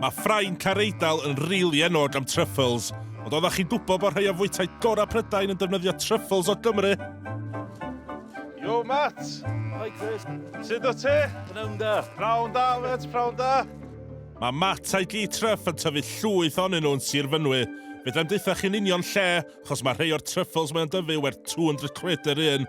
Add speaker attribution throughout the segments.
Speaker 1: Mae ffrain car Eidal yn rili enwog am truffles, ond oeddech chi'n gwybod bod rhai o fwytai gorau Prydain yn defnyddio truffles o Gymru? Yo, Matt! Hi, Chris. Sut o ti? Pnawn da. Pnawn da, Matt, pnawn da. Mae Matt a'i gi Truff yn tyfu llwyth onyn nhw'n Sir Fynwy. Fedrai'm deutha chi'n union lle, achos mae rhai o'r truffles mae'n dyfu werth 200 quid yr un.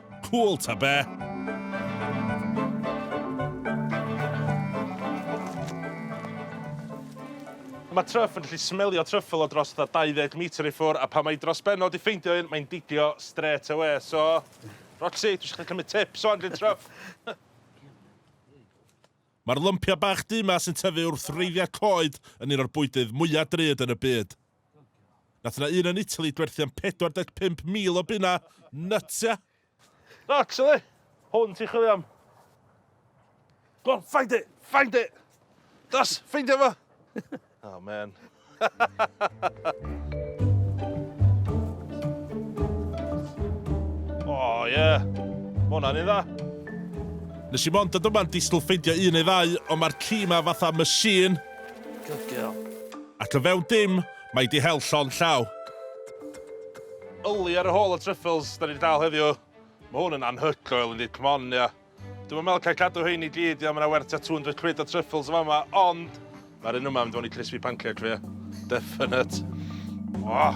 Speaker 1: Cŵl ta be! Mae Truff yn gallu smelio truffle o dros fatha 20 metre i ffwr, a pan mae hi dros ben o 'di ffeindio un, mae'n didio strêt awe. So, Roxy, dwi isio chdi cymryd tips ŵan gen Truff. Mae'r lympiau bach du 'ma sy'n tyfu wrth wreiddiau coed yn un o'r bwydydd mwya' drud yn y byd. Nath yna un yn Italy dwerthu am 45,000 o bunna. Nuts, ia? Actually, hwn ti'n chwilio am. Go on, find it, find it! Das, ffeindio fo! oh, man. oh, yeah. Mae hwnna'n ei dda. Nes i mond dod yma'n disgwyl ffeindio un neu ddau, ond mae'r ci ma fatha machine. Good girl. Ac o fewn dim, mae di hel llond llaw. Yli ar y hôl o truffles, da ni di dal heddiw. Mae hwn yn anhygoel yndi, come on ia. Dwi'm yn meddwl cael cadw hein i gyd ia, mae yna werth tua 200 quid o truffles yn fama, ond mae'r un yma yn mynd fewn i crispy pancake fi ia. Definite. Oh.